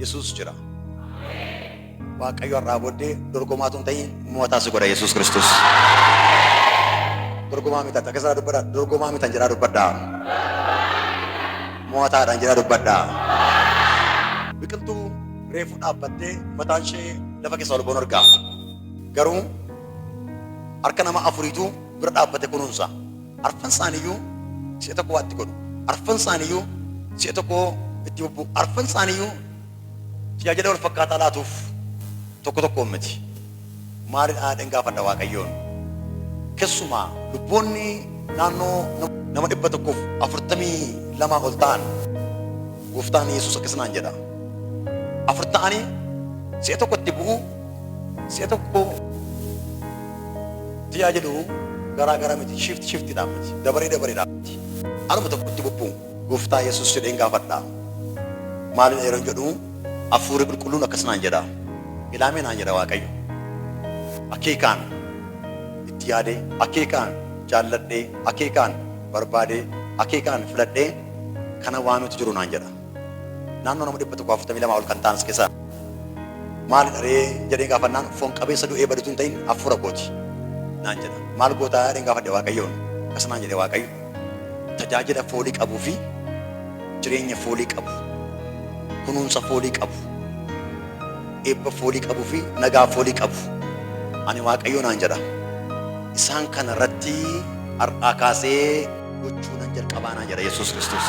Yesuus jira. Waaqayyo har'aa booddee dorgomaa tun ta'in mo'ataa si godha Yesuus Kiristoos. Dorgomaa mitan takka isaa dubbadha. Dorgomaa mitan jedhaa dubbadha. Mo'ataadhaan jedhaa dubbadha. Biqiltuu reefu dhaabbattee mataan ishee lafa keessa ol ba'uun argaa. Garuu harka nama afuriitu bira dhaabbate kunuunsa. Arfan isaaniyyuu si'a tokko waatti godhu. Arfan isaaniyyuu si'a tokko itti bubbu. Arfan isaaniyyuu tajaajila wal fakkaataa laatuuf tokko tokkoon miti. Maalidhaa dhen gaafadha Waaqayyoon. Keessumaa lubboonni naannoo nama dhibba tokkoof afurtamii lamaa ol ta'an gooftaan Yesuus akkas naan jedha. Afur ta'anii si'a tokko itti bu'u si'a tokko Wanti yaa jedhu garaa gara miti, shift shiftidhaan miti, dabaree dabareedhaan miti. Aluma tokkotti bubbuun Gooftaa Yesuus jedheen gaafadha. Maalidha yeroon jedhu Hafuurri Qulqulluun akkas naan jedha. Ilaamee naan jedha Waaqayyo. Akeekaan itti yaadee, akeekaan jaalladhee, akeekaan barbaadee, akeekaan filadhee kana waanuutu jiru naan jedha. naannoo nama 142 ol kan ta'an as keessaa maalidha ree jedhee gaafannaan foon qabeessa du'ee badutu hin ta'in hafuura kooti naan jedha. Maal gootaa jedheen gaafadhe Waaqayyoon akkas naan jedhe Waaqayyo tajaajila foolii qabuu fi jireenya foolii qabu kunuunsa foolii qabu eebba foolii qabuu fi nagaa foolii qabu ani Waaqayyo naan jedha. Isaan kana irratti har'aa kaasee gochuu nan jalqabaa naan jedha Yesuus Kiristoos.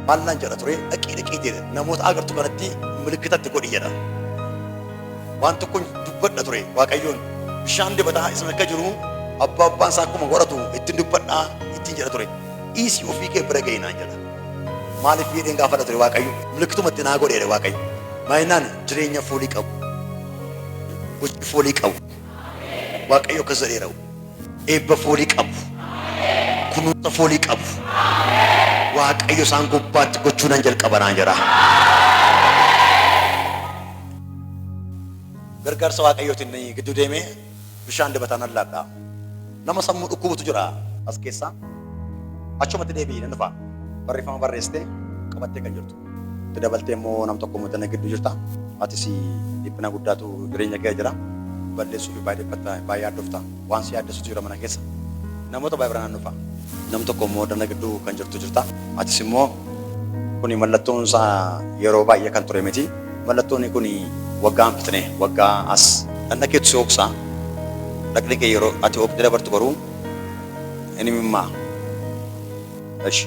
Maal naan jedha ture dhaqii dhaqii jedhe namoota agartu kanatti milikkitatti godhi jedha. Waan tokkon dubbadha ture Waaqayyoon bishaan dibataa isin akka jiru abbaa abbaan isaa akkuma godhatu ittiin dubbadhaa ittiin jedha ture. Dhiisii ofii kee bira ga'ii naan jedha. Maaliif jedheen gaafadha ture Waaqayyo milikkitumatti naa godheera Waaqayyo. Maayinaan jireenya foolii qabu. Gochi foolii qabu. Waaqayyo akkas jedheera. Eebba foolii qabu, kunuunsa foolii qabu Waaqayyo isaan gubbaatti gochuu nan jalqaba naan jedha. Gargaarsa Waaqayyootiin ni gidduu deemee bishaan dibataa nan laadha. Nama sammuu dhukkubutu jira as keessaa. Achumatti deebi'ii nan dhufa. Barreeffama barreessitee qabattee kan jirtu. Itti dabaltee immoo nam tokko immoo tana gidduu jirta. Atis dhiphina guddaatu jireenya kee jira. Balleessuu fi baay'ee dhiphatta, baay'ee yaaddofta. Waan si yaaddessutu jira mana keessa. Namoota baay'ee bira naannufa. Nam tokko immoo dana gidduu kan jirtu jirta. Atis immoo kuni mallattoon isaa yeroo baay'ee kan ture miti. Mallattoon kuni waggaa hin fixne, waggaa as. Dhaqna keetu si ooksa. Dhaqni kee yeroo ati ooktee dabartu garuu hin himimmaa. Eshi.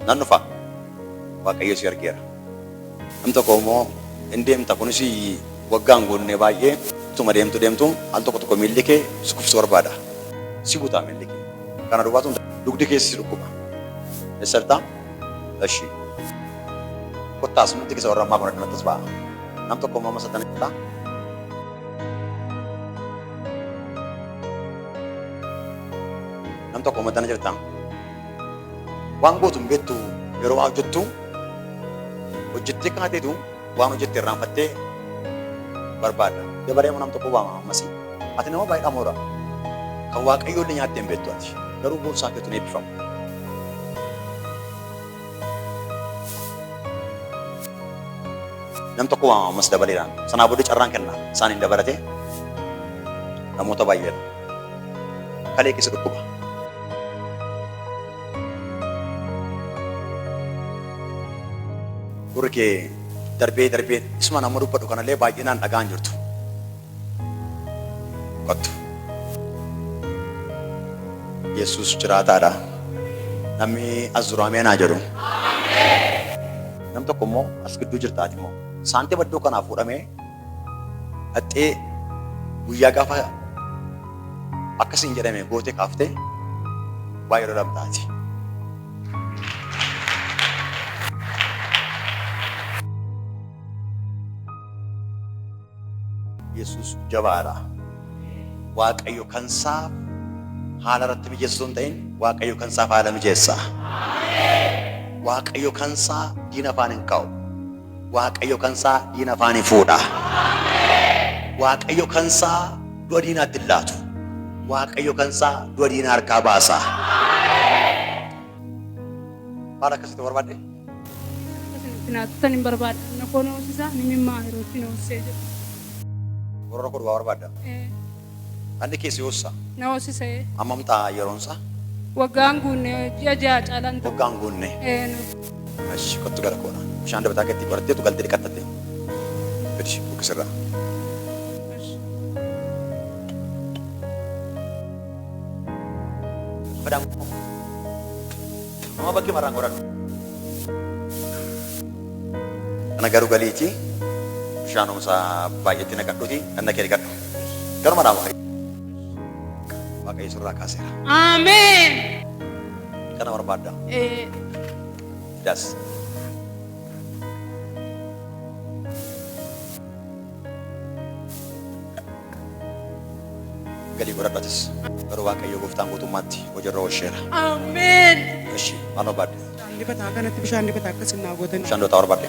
Nan dhufa. Waaqayyo si argeera. Nam tokko immoo in deemta kunis waggaan guunnee baay'ee utuma deemtu deemtu al tokko tokko miilli kee si kufsu barbaada. Si butaa miilli kee. Kana duwwaatu hin ta'u. dugdi keessa si dhukkuba. Eessa jirta? Eshi. Kottaa as nutti keessa warra ammaa kun addumatti as ba'a. Nam tokko immoo amma satan jira. Nam tokko amma tana jirta. Waan gootu hin beektu yeroo waa hojjettu hojjettee kaateetu waan hojjette irraanfattee barbaadda. Dabaree nama tokko waama ammas. Ati nama baay'ee dhamoodha. Kan waaqayyoo illee nyaattee hin beektu ati. Garuu boorsaa keetu ni eebbifama. Nam tokko waama ammas dabaleedhaan. Sanaa booda carraan kenna. Isaan hin dabalatee namoota baay'eedha. kalee keessa dhukkuba. Gurri kee darbee darbee isuma nama dubbadhu kanallee baay'inaan dhagaan jirtu. Qottu. Yesuus jiraataadha. Namni as jiru ameen haa jedhu. Nam tokko immoo as gidduu jirtaati immoo saantima iddoo kanaa fuudhamee Dhaxxee guyyaa gaafa akka siin jedhame goote kaafte waa yeroo dhabdaa ati. Yesuus jabaadha. Waaqayyo kan isaaf haala irratti mijeessa osoo hin ta'in Waaqayyo kan isaaf haala mijeessa. Waaqayyo kan isaa diina afaan hin kaa'u. Waaqayyo kansaa diina afaan hin fuudha. Waaqayyo kansaa du'a diinaatti hin laatu. Waaqayyo kansaa du'a diina harkaa baasa. Maal akkasitti barbaadde? Tinaattan hin barbaada. Anna koo na hoosisa, ni mimmaa yerootti na hoosisee jedhu. Gorora koo duwwaa barbaadda? Ee, Dhandhi kee si hoosisaa? na hoosisa ee. Hammam ta'a yeroon isaa? Waggaan guunne ji'a ja'a caalaan ta'u. Waggaan guunne. Ee, nu. Ashi kottu gara koodha. Bishaan dabataa keetti qoratteetu galtee dhiqattatte. Gadi buqqisirraa. Badaan koo. Amma bakkee marraan qoradhu. Kana garuu galiitii bishaan humsaa baay'eetti naqadhuuti dhandha kee dhiqadhu. Garuma dhaama fayyada. Waaqayyo sirraa kaaseera. Ameen. Kana barbaadda. Ee, Das. Galii godhadhatis. Garuu Waaqayyo gooftaan guutummaatti hojiirra oolcheera. Ameen. Ishi maal barbaadde? Bishaan dibataa kanatti bishaan dibataa akkas hin naa gootan. Bishaan dootaa barbaadde.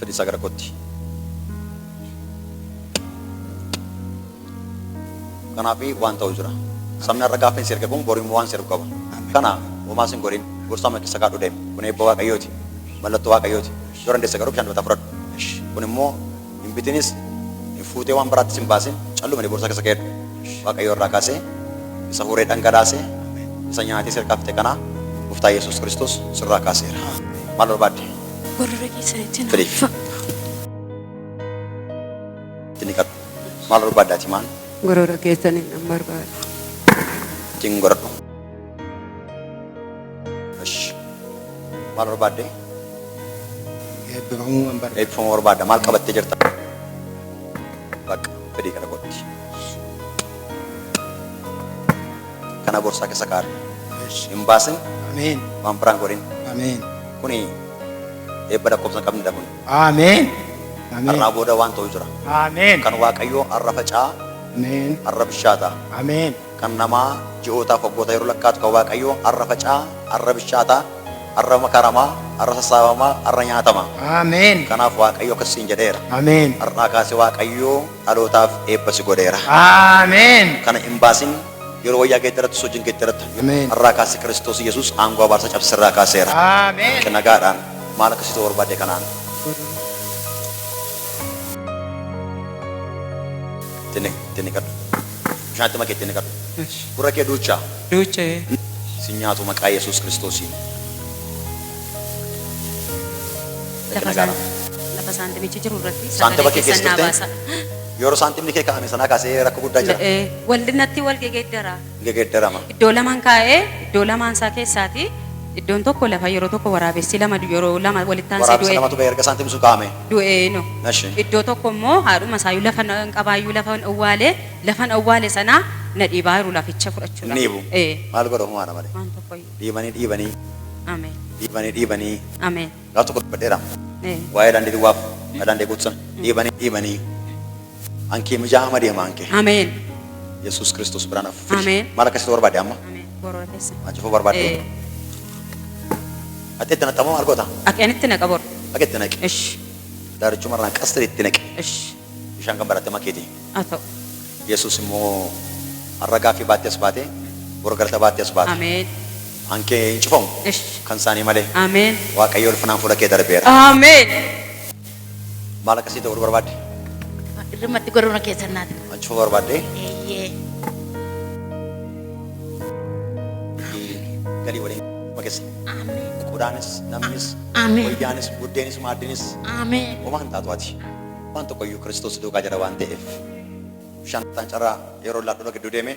fedhisaa gara kootti. Kanaaf waan ta'u jira. Sabni har'a gaaffii si erge kun boru immoo waan si ergu qaba. Kana homaa sin godhin gorsaa mana keessa kaadhu deemu. Kun eebba waaqayyooti. Mallattoo waaqayyooti. Yoo dandeesse garuu bishaan dubataa fudhadhu. Kun immoo hin bitinis hin fuutee waan biraattis hin baasin callumani boorsaa keessa keedhu waaqayyo irraa kaasee isa horee dhangalaasee isa nyaatee sirkaa fite kanaa gooftaa yesus kiristoos sirraa kaaseera maal barbaadde Gorora keessa ittiin Filiif. haffa. ittiin dhiqadhu maal barbaaddaati maan Gorora keessaniin nan barbaada. ittiin godhadhu Ish. Maal barbaadde? Eebbifamuu waan barbaadu. Eebbifamuu barbaadda. Maal qabattee jirta? Bakka fedhii kana gootti. Kana borsaa keessa kaa'adhu. Ish. Hin baasin Ameen. waan biraan godhin. Ameen. Kuni eebba lakkoofsa hin qabnedha kun. Ameen. Ameen. Har'aa booda waan ta'u jira. Ameen. Kan Waaqayyoo har'a faca'aa, Ameen. har'a bishaataa. Ameen. Kan namaa ji'ootaaf waggoota yeroo lakkaa'atu kan Waaqayyoo har'a faca'aa, har'a bichaataa, har'a makaramaa, har'a sassaabamaa, har'a nyaatamaa. Ameen. Kanaaf Waaqayyo akkas siin jedheera. Ameen. Har'aa kaasee Waaqayyoo dhalootaaf eebba si godheera. Ameen. Kana hin baasin, yeroo wayyaa geeddarattus hojiin geeddarata. Ameen. Har'aa kaasee Kiristoos Yesuus aangoo abaarsaa cabse sirraa kaaseera. Ameen. Akka nagaadhaan maal akka si ta'u barbaadde kanaan. Itti ni- itti ni kadhu. Bishaan itti makeetti inni qabe. Esh. Gurra kee duuchaa. Duucha'ee. Sin nyaatu maqaa Yesuus Kiristoosiin. Lafa Dhaqina gaara. saan- lafa saantimichi jiru irratti Saantima sagalee kee keessan naa keessatti? baasa. Yeroo saantimni kee kaa'ame sanaa kaasee rakkoo guddaa jira. Eh, Waldinatti wal gegeeddara. Gegeeddarama. Iddoo lamaan kaa'ee iddoo lamaan isaa keessaati iddoon tokko lafa yeroo tokko waraabessi lama du- yeroo lama walitti aansee Waraabessa du'e. lamatu ba'e erga saantimni sun kaa'ame. du'eenu. Eshi. Iddoo tokko immoo haadhuma isaayyuu lafa na- hin qabaayyuu lafa hin awwaale lafa hin awwaale sana na dhiibaa jiru laficha fudhachuudhaaf. Inni hibu. Ee, Maal godha humaana malee. waan tokkoyyuu. Dhiibanii dhiibanii Ameen. dhiibanii dhiibanii Ameen. gaaf tokko dubbadheera. Ee. Waa'ee daandii duwwaaf daandii guutu sana dhiibanii dhiibanii Ankee mijaa hama deema ankee. Ameen. Yesuus Kiristoos biraan hafu. fidi. Ameen. Maal akkasitti barbaade amma? Ameen. Gorora keessa. Maal cufuu barbaadde? Eh, Ati itti naqxamoo maal goota? Ati anitti naqa bor. Akka itti naqi. Ish. Daarichuma irraan qasta itti naqi. Ish. Bishaan kan baratte makeeti. Haa ta'u. Yesuus immoo har'a gaaffii baattee as baate, bor galata baattee as baate. Ameen. Ankee hin cufamu. Ish. Kan isaanii malee. Ameen. Waaqayyo ulfinaan fuula kee darbeera. Ameen. Maal akkasii ta'uu barbaadde? Irrimatti gorona keessan naati. Achuma barbaadde? Eeyyee. Galii waliin makeessa. Ameen. Qodaanis, namnis, Ameen. wayyaanis, buddeenis, maaddinis Ameen. homaa hin taatu ati. Waan tokkoyyuu Kiristoos duukaa jira waan ta'eef. Shantaan carraa yeroo laadhuma gidduu deemee